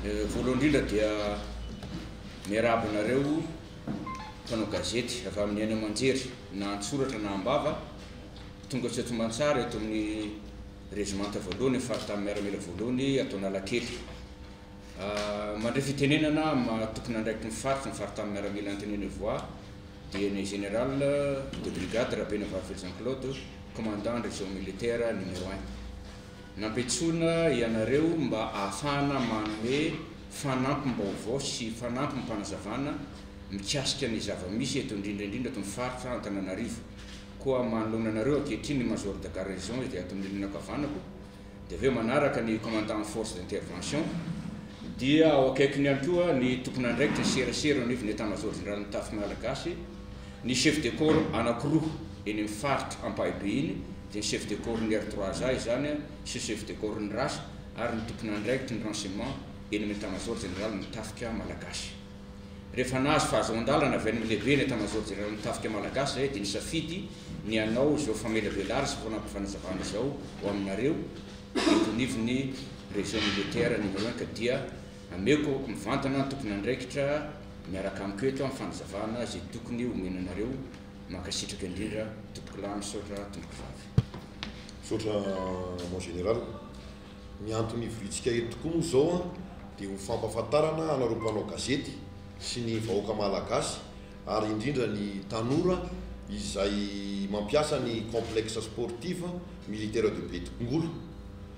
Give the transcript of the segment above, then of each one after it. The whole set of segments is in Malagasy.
Voalohany indrindra dia miarahaba anareo mpanao gazety avy amin'ny haino aman-jery na an-tsoratra na am-bava tonga tsy atomantsaha eto amin'ny rezimanta voalohany faritany miaramila voalohany ato Analakely. Ah, mandray fitenenana amin'ny tomponandraiky ny faritra ny faritany miaramila Antenene Voix dia ny général de brigade Rabenavavy Jean Claude, commandant en région militaire numéro 1. Nampiantsoina ianareo mba ahafahana manome fanampim-baovao sy fanampim-panazavana mikasika ny zava-misy eto indrindra indrindra eto amin'ny faritra Antananarivo. Koa manoloana anareo ankehitriny ny Major de Garnison izay ato amin'ny rindrina ankavanako, dia avy eo manaraka ny Commandant en Force d'Intervention, dia ao akaikiny ihany koa ny Tompon'andraikitra ny serasera eo anivon'ny Etat-Major Jeneralin'ny Mitafy Malagasy, ny Chef de Corps anankiroa eny amin'ny faritra Ampahibe iny, dia chef de corps ny R3 A izany an, sy chef de corps ny ras ary ny tompon'andraikitry ny renseignement eny amin'ny Etat-major general ny tafika Malagasy. Rehefa nahazo fahazoan-dalana avy any amin'ny lehiben'ny Etat-major general ny tafika Malagasy izahay dia nisafidy ny hanao izao famelabelara sy fanampim-panazavana izao ho aminareo eto anivon'ny région militaire numéro un ka dia ameko mivantana ny tompon'andraikitra miaraka amiko eto amin'ny fanazavana izay tokony homena anareo Mankasitraka indrindra tompokolahy misaotra tompokovavy. Misaotra mon général. Ny antony ivoriantsika eto tokoa moa izao an dia ho fampafantarana anareo mpanao gazety sy ny vahoaka malagasy ary indrindra ny tanora izay mampiasa ny complexe sportive militaire de Betongolo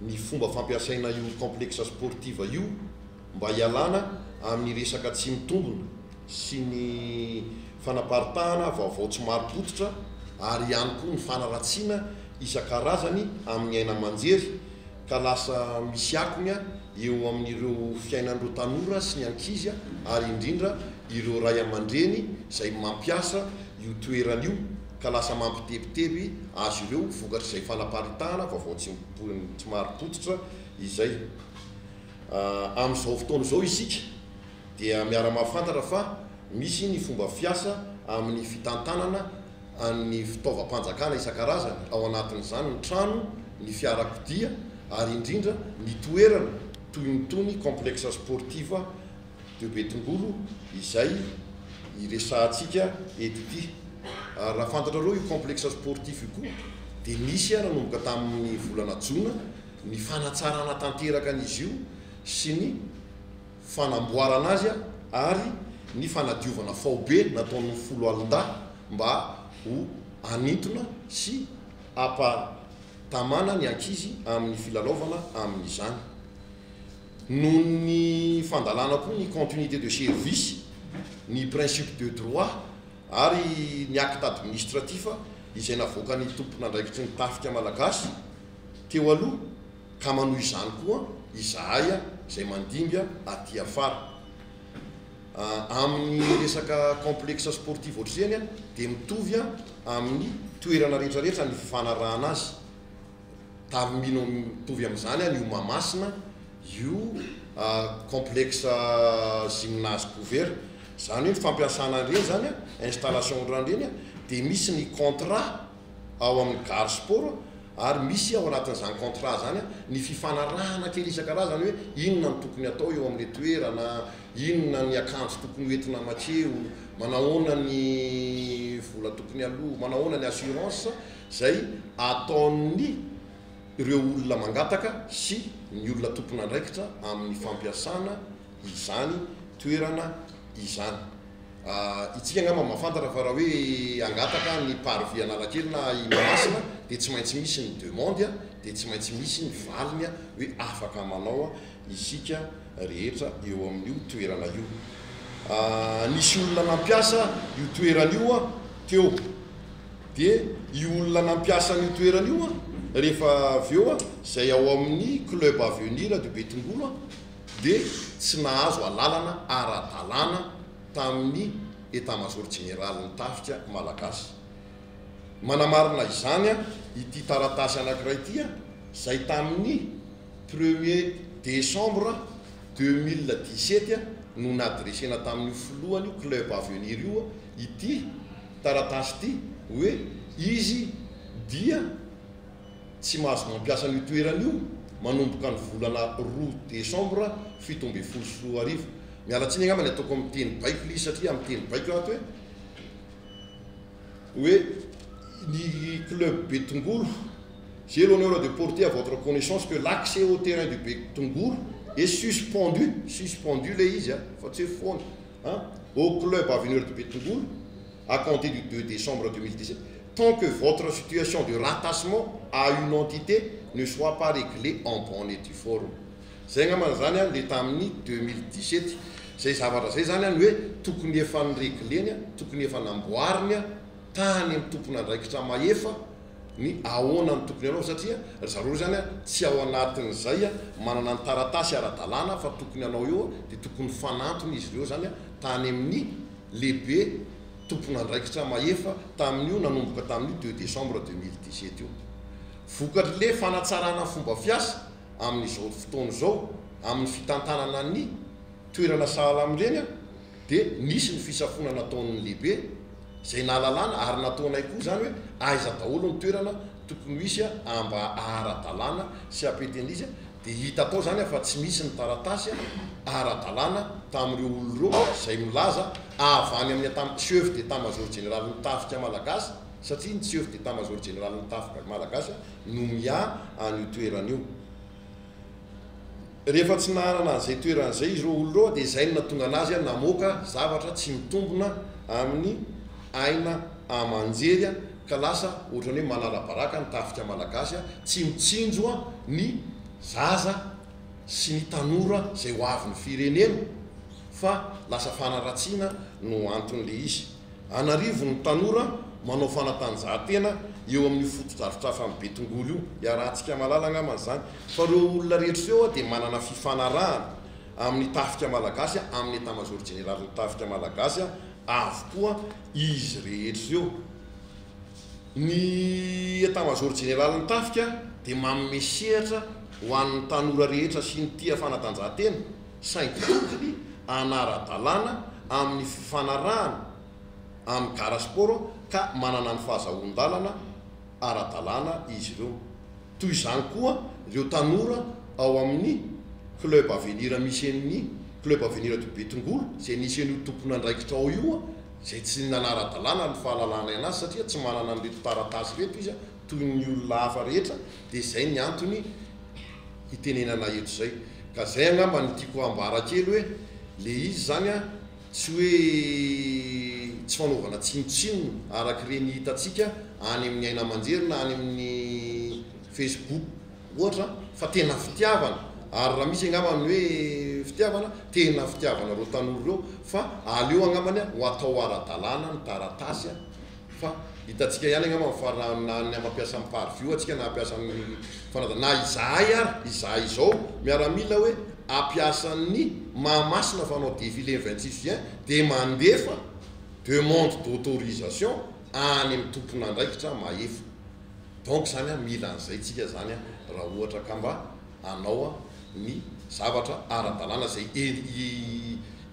ny fomba fampiasaina io complexe sportive io mba hialana amin'ny resaka tsy mitombina sy ny fanaparitahana vaovao tsy marim-pototra ary ihany koa ny fanaratsiana isan-karazany amin'ny aina aman-jery ka lasa misy akony eo amin'ireo fiainan'ireo tanora sy ny ankizy ary indrindra ireo ray aman-dreny izay mampiasa io toerana io ka lasa mampitebiteby azy ireo vokatr'izay fanaparitahana vaovao tsy marim-pototra izay. Amin'izao fotoana izao isika dia miara-mahafantatra fa misy ny fomba fiasa amin'ny fitantanana ny fitaovam-panjakana isan-karazany, ao anatin'izany ny trano, ny fiarakodia ary indrindra ny toerana toy itony Complexe Sportif de Betongolo izay iresahantsika eto ity. Ary raha fantatrareo io Complexe Sportif io koa dia nisy nanomboka tamin'ny volana jona Ny fanatsarana tanteraka an'izy io sy ny fanamboarana azy ary ny fanadiovana faobe nataon'ny foloalindahy mba ho hanintona sy hampatamana ny ankizy amin'ny filalaovana amin'izany. Noho ny fandalana koa ny continuité de service, ny principe de droit ary ny acte administratif izay navoakan'ny tompon'andraikitry ny tafika malagasy, teo aloha ka manohy izany koa izahay izay mandimby aty afara. Amin'ny resaka complexe sportif ohatr'izany dia mitovy amin'ny toerana rehetra rehetra ny fifanarahana azy. Tarimino mitovy amin'izany io Mahamasina io complexe gymnase couvert izany hoe ny fampiasana an'ireny izany installation ireny dia misy ny contrat ao amin'ny Gare Sport ary misy ao anatin'izany contrat izany ny fifanarahana kely isan-karazany hoe inona no tokony atao eo amin'ilay toerana, inona ny akanjo tokony ho entina mankeo, manahoana ny vola tokony aloa, manahoana ny assurance izay ataon'ny ireo olona mangataka sy ny olona tompon'andraikitra amin'ny fampiasana izany toerana izany. Itsika angamba mahafantatra fa raha hoe hangataka ny parvis Analakely na i Mahamasina dia tsy maintsy misy ny demande dia tsy maintsy misy ny valiny hoe afaka manao isika rehetra eo amin'io toerana io. Nisy olona nampiasa io toerana io teo dia io olona nampiasa an'io toerana io rehefa avy eo izay ao amin'ny club avenir de Betongolo dia tsy nahazo alalana ara-dalàna tamin'ny Etamazaoro Jeneralin'ny Tafika Malagasy. Manamarina izany ity taratasy anankiray ity izay tamin'ny premier décembre deux mille dix-sept no nadresena tamin'io filohan'io club Avenir io ity taratasy ity hoe izy dia Tsy mahazo mampiasa an'io toerana io manomboka ny volana roa desambra fito ambin'ny folo sy roa arivo. Miala tsiny angamba ny ataoko amin'ny teny baiko Lee satria amin'ny teny baiko ato hoe hoe ny club Betongolo j'ai l'honneur de porter à votre connaissance que l'accès au terrain du Betongolo est suspendu, suspendu ilay izy an, fa tsy hoe foana an, au club Avenir de Betongolo. à compter du deux décembre deux mille dix-sept, tant que votre situation de rattachement à une entité ne soit pas réglée en bonne et due forme. Izay angamba izany an, le tamin'ny deux mille dix-sept izay zavatra izay izany an, hoe tokony efa ni-regleny, tokony efa namboariny tany amin'ny tompon'andraikitra mahefa ny ahoana no tokony hanao, satria ry zareo izany an, tsy ao anatin'izay manana ny taratasy ara-dalàna fa tokony hanao eo dia tokony fanantona izy ireo izany an, tany amin'ny. lehibe tompon'andraikitra mahefa tamin'io nanomboka tamin'io deux décembre deux mille dix sept io. Vokatr'le fanatsarana fomba fiasa amin'izao fotoana izao amin'ny fitantanana ny toerana sahala amin'ireny dia nisy ny fisafoana nataon'ny lehibe izay nahalalana ary nataonay koa izany hoe aiza daholo ny toerana tokony ho hisy a mba ara-dalàna sy apetenizy dia hita tao izany fa tsy misy ny taratasy ara-dalàna tamin'ireo olona ireo izay milaza avy any amin'ny Atam Chef d'Etat Major Jeneralin'ny Tafika Malagasy satria ny Chef d'Etat Major Jeneralin'ny Tafika Malagasy no mià an'io toerana io. Rehefa tsy nahanana an'izay toerana izay izy ireo olona ireo dia izay no nahatonga an'azy namoaka zavatra tsy mitombina amin'ny aina aman-jery ka lasa ohatran'ny hoe manala-baraka ny tafika malagasy a, tsy mitsinjo a ny zaza sy ny tanora izay ho avin'ny firenena fa lasa fanaratsiana no anton'ilay izy. An'arivony tanora manao fanatanjahantena eo amin'io fotodrafitrafan'i Betongolo io, iarahantsika mahalala angambany izany fa ireo olona rehetra ireo a dia manana fifanarahana, amin'ny Tafika Malagasy, amin'ny Etamazaoro Jeneralin'ny Tafika Malagasy avokoa izy rehetra ireo. Ny Etamazaoro Jeneralin'ny Tafika dia manome sehatra ho an'ny tanora rehetra sy ny tia fanatanjahantena, saingy tokony hanara-dalàna amin'ny fifanarahana amin'ny Gara Sport ka manana ny fahazahoan-dalana ara-dalàna izy ireo. Toy izany koa ireo tanora ao amin'ny Club Avenir misy eny Club Avenir ato Betongolo izay nisy an'io tompon'andraikitra ao io izay tsy nanara-dalàna ny fahalalahana azy satria tsy manana an'ireto taratasy ireto izy toy ny olona hafa rehetra dia izay ny antony hitenenana eto izay ka izay angamba no tiako hambara kely hoe le izy izany Tsy hoe tsy fanaovana tsinontsinona araka ireny hitantsika any amin'ny aina aman-jery na any amin'ny Facebook ohatra fa tena fitiavana, ary raha misy angamba ny hoe fitiavana, tena fitiavana ireo tanora ireo fa aleo angambany ho atao ara-dalàna ny taratasy. Fa hitantsika ihany angamba ny farany na ny hampiasa ny par view antsika na hampiasa ny fanadina na izahay ary izahay izao miaramila hoe hampiasa ny Mahamasina fa hanao défilé ny vingt six juin dia mandefa demande d'autorisation any amin'ny tompon'andraikitra mahefa donc izany an mila an'izay tsika izany an raha ohatra ka mba hanao an ny zavatra ara-dalàna izay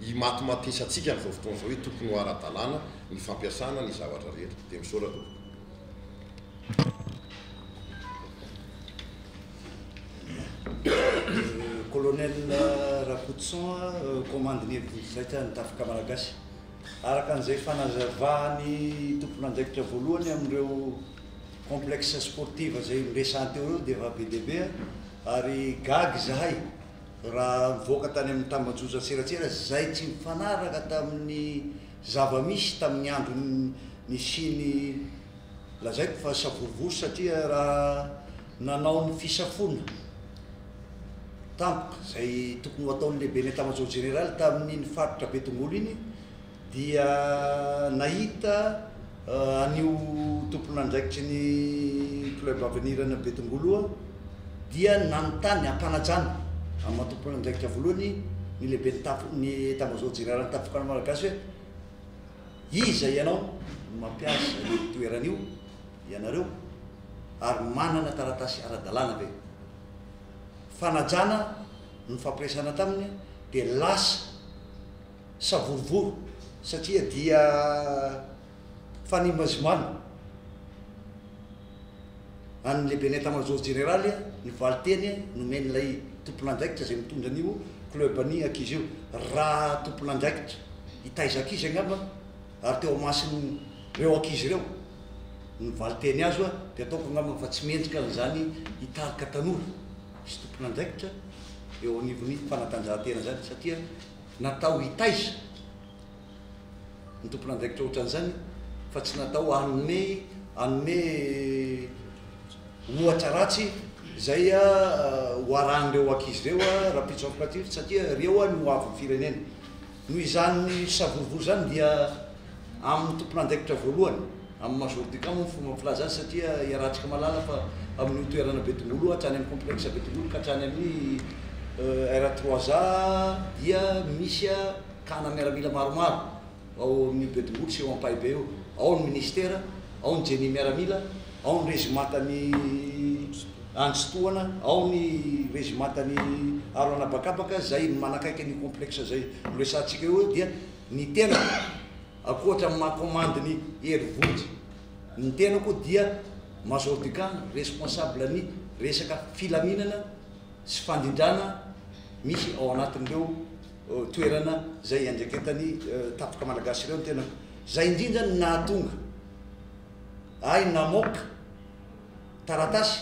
himatomatoesantsika amin'izao fotoana izao hoe tokony ho ara-dalàna ny fampiasana ny zavatra rehetra dia misaotra tompoko. Colonel Rakotoson a, Komandin'ny Hevi-diso Zaitra ny Tafika Malagasy. Araka an'izay fanazavan'ny tompon'andraikitra voalohany amin'ireo complexe sportive izay niresahany teo ireo dia efa be dia be ary gaga izahay raha nivoaka tany amin'ny tambajotra an-tserasera izay tsy mifanaraka tamin'ny Zava-misy tamin'ny andro nisian'ny lazaiko fa savorovoro satria raha nanao ny fisafoana tampoka izay tokony ho ataon'ny lehiben'ny Etat-major jeneraly tamin'iny faritra Betongolo iny dia nahita Anio tompon'andraikitry ny Club Avenir any Betongoloa dia nanontany hampanajana amin'ny maha tompon'andraikitra voalohany ny lehiben'ny tafo ny Etamazaoro jeneralin'ny Tafikana Malagasy hoe iza ianao no mampiasa io toerana io ianareo ary manana taratasy ara-dalàna ve? Fanajana nofampiresahana taminy dia lasa savorovoro satria dia fanimazimana an'ny lehiben'ny Etat-major jeneraly ny valinteny nomen'ilay tompon'andraikitra izay mitondra an'io club ny ankizy io raha tompon'andraikitra hitaiza ankizy angamba ary teo amason'ireo ankizy ireo ny valinteny azo a dia ataoko angamba fa tsy mendrika an'izany hitarika tanora sy tompon'andraikitra eo anivon'ny fanatanjahantena izany satria Natao hitaiza ny tompon'andraikitra ohatran'izany fa tsy natao hanome hanome ohatra ratsy izay ho arahan'ireo ankizy ireo rahampitso afokatrify satria ireo no ho avin'ny firenena. Noho izany savorovoro izany dia amin'ny tompon'andraikitra voalohany. Amin'ny majorité cas moa ny fomba filaza azy satria iarahantsika mahalala fa amin'io toerana be tongolo io hatrany amin'ny complexe be tongolo ka hatrany amin'ny R trois A dia misy kana miaramila maromaro ao amin'ny be tongolo sy eo ampahibe eo. Ao ny ministera, ao ny Jenny miaramila, ao ny rezimantan'i Andritsitohana, ao ny rezimantan'i Aro an'habakabaka izay manakaiky an'io complexe izay noresahantsika io dia ny tena Ankoatra ny maha commande ny Hery Vonjy, ny tenako dia Major du camp, responsable ny resaka filaminana sy fandrindrana misy ao anatin'ireo toerana izay iandraiketan'ny Tafika Malagasy ireo ny tenako. Izay indrindra no nahatonga ahy namoaka taratasy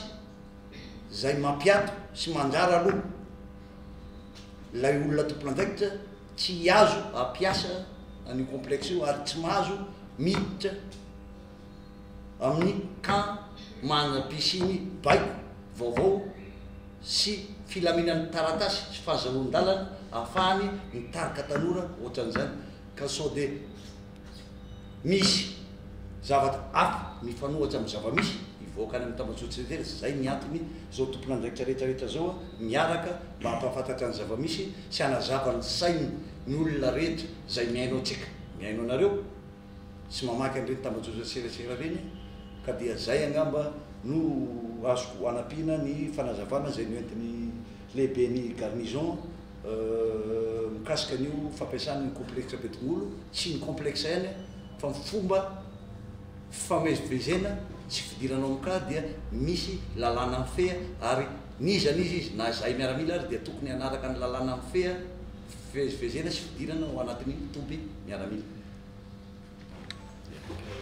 izay mampiato sy mandrara loha ilay olona tompon'andraikitra, Tsy azo ampiasa an'io complexe io ary tsy mahazo miditra amin'ny camp manana piscine baiko vaovao sy filaminan'ny taratasy sy fahazahoan-dalana ahafahany mitarika tanora ohatran'izany ka sao dia Misy zavatra hafa mifanohatra amin'ny zava-misy hivoaka any amin'ny tambajotran-dRehetra izay ny antony izao tompon'andraikitra rehetra rehetra izao miaraka mba hampahafantatra ny zava-misy sy hanazava ny sain'ny olona rehetra izay mihaino antsika, mihaino anareo sy mamaky an'ireny tambajotra serasera ireny ka dia izay angamba no azoko anampiana ny fanazavana izay noentin'i Lehiben'ny Garnison mikasika an'io fampiasana ny Complexe Betongolo sy ny Complexe N fa ny fomba fifamezivezena sy fidirana ao amin'ny cas dia misy lalàna mifehy ary n'iza n'iza izy na izahay miaramila ary dia tokony hanaraka ny lalàna mifehy fivezivezena sy fidirana ao anatin'ny toby miaramila.